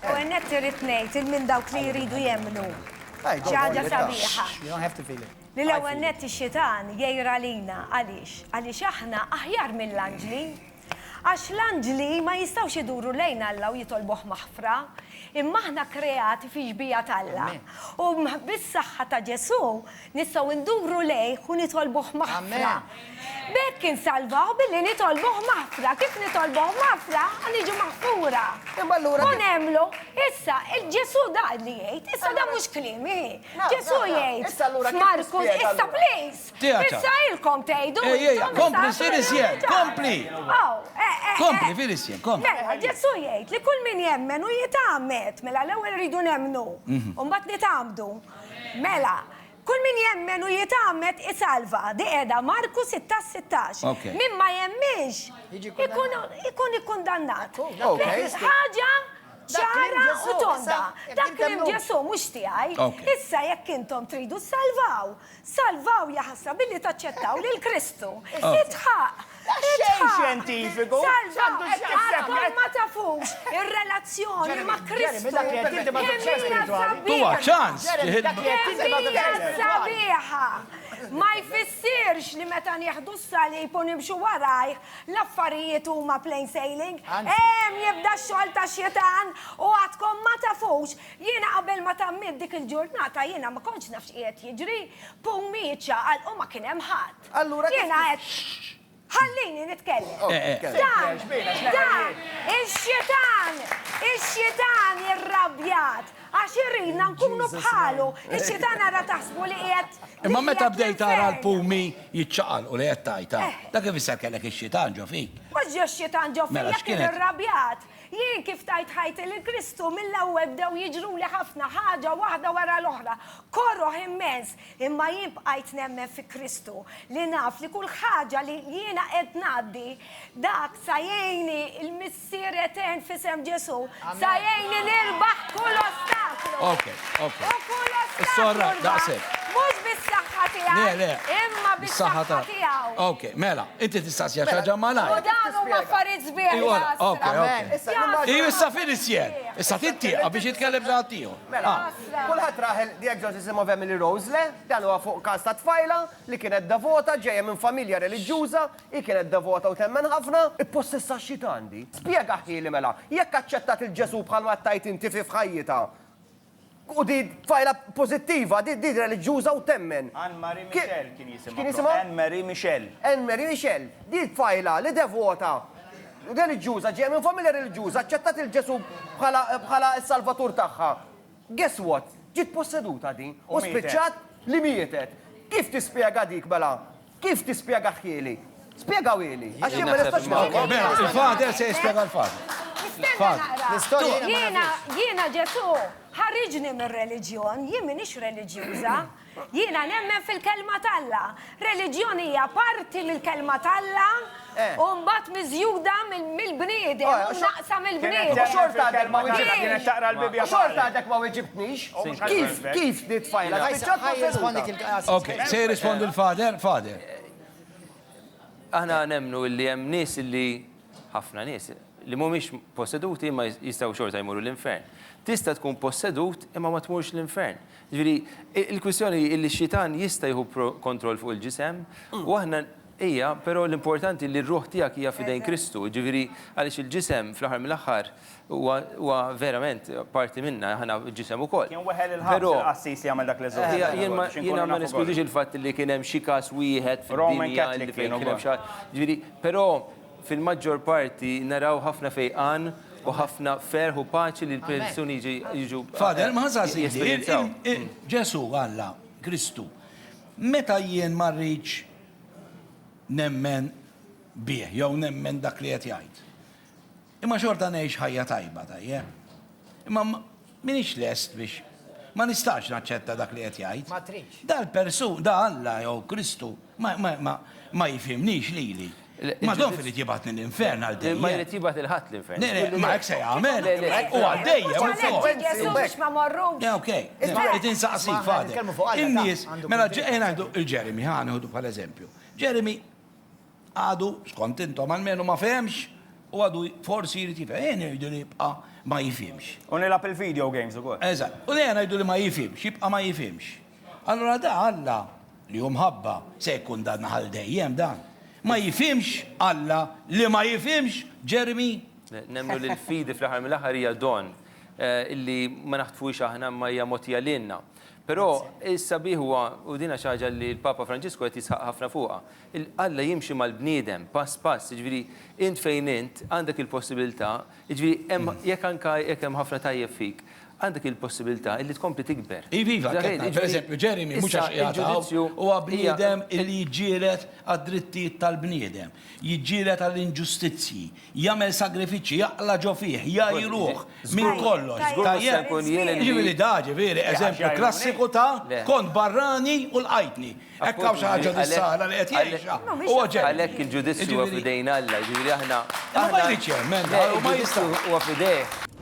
U għennet irrit nejt, il-min dawk li jridu jemnu. ċaġa sabiħa. You don't have to feel it. Li l-ewwel net ix-xitan jgħira lina għaliex? Għaliex aħna aħjar mill-anġli. Għax l-anġli ma jistgħux iduru lejn Alla u jitolbuh maħfra, imma aħna kreati fi xbija t'Alla. U bis-saħħa ta' Ġesù Nistgħu nduru lejh u nitolbuh maħfra. B'hekk insalvaw billi nitolbuh maħfra. Kif nitolbuh maħfra, niġu maħfura. Imma allura. U nemmlu. Issa, Ġesù dan li jgħid. Issa dan mhux kliemi. Ġesù jgħid. Issa allura kif nispjega. F'Markus, issa please. Issa ilkom tgħidu. Ejja, ejja, kompli, sir iżjed, kompli. Aw, eh, eh, eh. Kompli, fir iżjed, kompli. Mela, Ġesù jgħid li kull min jemmen u jitgħammed, mela l-ewwel irridu nemmnu, u mbagħad nitgħammdu. Mela, Kull min jemmen u jitgħammed isalva. Di qiegħda Marku 16, 16. Ok. Min ma jemminx Jiġi ikun kundannat. ikun ikkundannat. Ok. Ħaġa Dak kliem ċara Ġesù, u tonda. issa, jekk Dak intom kliem mnu- Ġesù mhux tiegħi. Ok. Issa jekk intom tridu ssalvaw, salvaw jaħasra billi taċċettaw lil Kristu. Issa. Itħaq Xejn xjentifiku! Salva, għadkom ma tafux ir-relazzjoni ma' Kristu! Tuha ċans! Temmila sabiħa! Ma jfissirx li meta nieħdu s-salib u nimxu warajh, l-affarijiet huma plain sailing. Hemm jibda x-xogħol tax-xitan u għadkom ma tafux! Jiena qabel ma tammiet dik il-ġurnata jiena ma kontx naf x'qiegħed jiġri. Pumieċa għalqu ma kien hemm ħadd. Allura kif. Jiena qed. Ħallini nitkellem. Dan, dan, ix-xitan, ix-xitan irrabjat għax iridna nkunu bħalu. Ix-xitan ara taħsbu li qiegħed. Imma meta bdejt tara l-pumi jiċċaqal u li qed tajta, eh. dak ifisser kellek ix-xitan ġo fik. Mhux ġo x-xitan ġo fik mela, jekk kien irrabjat. Jien kif tajt ħajti lil Kristu mill-ewwel bdew jiġruli ħafna ħaġa waħda wara l-oħra. Koroh immens, Imma jien bqajt nemmen fi Kristu, li naf li kull ħaġa li jiena qed ngħaddi, dak sa jgħinni l-Missier Etern f'isem Ġesù, sa jgħinni nirbaħ kull ostaklu. U kull ostaklu rbaħt, mhux bis-saħħa tiegħi, imma bis-saħħa tiegħu. Ok, mela, inti tistaqsiha xi ħaġa malajr. U dawn huma affarijiet sbieħ jaslu. Issa fien is-sjer, issa tittieqa biex jitkellem xi ħaddieħor. Kulħadd rah il-Dieg Josissimo Family Rose, le? Dan huwa fuq każ ta' tfajla li kienet devota, ġejja minn familja reliġjuża, hi kienet devota u temmen ħafna. Ippossessa x-xitan di? Spjega ħieli mela, jekk aċċettat lil Ġesù bħal ma tgħid inti fi f'ħajjitha, u di tfajla pożittiva, di di reliġjuża u temmen. Anne Marie Michel kien jisimha. X'kien jisimha? Anne Marie Michel. Anne Marie Michel. Di tfajla li devota. reliġjuża, ġejja minn familja reliġjuża, aċċettat lil Ġesù bħala s-Salvatur tagħha. Guess what? Ġiet posseduta din u spiċċat li mietet. Kif tispjega dik mela? Kif tispjegah ħieli? Spjegawieli, għax jien ma nistax nagħmel. Mela, il-Father se jispjega l-Father. Jiena Ġesù ħariġni mir-reliġjon, jien m'iniex reliġjuża. Jiena nemmen fil-Kelma t'Alla. Reliġjon hija parti mill-Kelma t'Alla u mbagħad miżjuda mill-bniedem u mnaqqsa mill-bniedem. U xorta għadek ma weġibtnix. U xorta għadek ma weġibtnix. Kif, kif nitfajla? Spiċċat ma' seduta. Ok, se jirrispondi l-Father? Father. Aħna nemmnu li hemm nies li, ħafna nies, li mhumiex posseduti imma jistgħu xorta jmorru l-infern. Tista' tkun possedut imma ma tmurx l-infern. Jiġifieri, il-kwistjoni hi li x-xitan jista' jieħu kontroll fuq il-ġisem, u aħna, hija, però l-importanti li r-ruħ tiegħek hija f'idejn Kristu, jiġifieri, għaliex il-ġisem fl-aħħar mill-aħħar huwa huwa verament parti minna, aħna ġisem ukoll. Kien weħel il-ħabs il-qassis li għamel dak l-eżorċiżmu ukoll, biex inkunu nafu kollox. Jiena ma neskludix il-fatt li kien hemm xi każ wieħed fid-dinja li fejn kien hemm xi ħadd, jiġifieri, però, Fil-maġġor parti naraw ħafna fejqan u ħafna ferħ u paċi li l-persuni jiġu jesperjenzaw. Ġesù, Alla, Kristu, meta jien ma rridx nemmen bih jew nemmen dak li qed jgħid, imma xorta ngħix ħajja tajba, tajjeb? Imma M'iniex lest biex. Ma nistax naċċetta dak li qed jgħid. Ma tridx. Dal-persu, da Alla jew Kristu ma, ma, ma, ma jifhimnix lili. Ma donf irid jibgħatni l-infern għal dejjem. Ma jrid jibgħatni 'l ħadd l-infern. Le, le, ma hekk se jagħmel. Le, le. U għal dejjem ukoll. Mhux għalhekk ġiet Ġesù biex ma mmorrux. Le, okej. Irid insaqsik, Father. In-nies, mela ejja ngħidu 'l Jeremy, ħa nieħdu bħala eżempju. Jeremy, Għadu, skont intom, almenu ma fehemx u għadu forsi jrid jifhem. Ejja ngħidu li jibqa' ma jifhimx. U nilgħab il-video games ukoll. Eżatt. U ejja ngħidu li ma jifhimx, jibqa' ma jifhimx. Allura da Alla, li hu mħabba, se jikkundanna ghal dejjem dan. Ma jifhimx Alla li ma jifhimx Jeremy? Nemmnu li l-fidi fl-aħħar mill-aħħar hija don, illi ma naħtfuhiex aħna imma hija mogħtija lilna. Però is-sabiħ huwa, u dinha xi ħaġa li l-Papa Franġisku qed jisħaq ħafna fuqha, Alla jimxi mal-bniedem pass pass, jiġifieri int fejn int għandek il-possibilità, jiġifieri hemm jekk anke jekk hemm ħafna tajjeb fik, għandek il-possibilità illi tkompli tikber. Iva, iva, qed ngħid, per eżempju, Jeremy mhux għax qiegħed hawn, huwa bniedem illi jiġġieled għad-drittijiet tal-bniedem, jiġġieled għall-inġustizzji, Jagħmel sagrifiċċji, jaqla' ġo fih, jgħajruh minn kollox. Jiġifieri da, ġifieri, eżempju klassiku ta' kont barrani u lqajtni. Hekk hawn xi ħaġa dis-sara li qed jgħixha? Huwa ġenn. Għalhekk il-ġudizzju huwa f'idejn Alla, jiġifieri aħna. Ma jridx jemmen, dan hu ma jistax. Il-ġudizzju huwa f'idejh.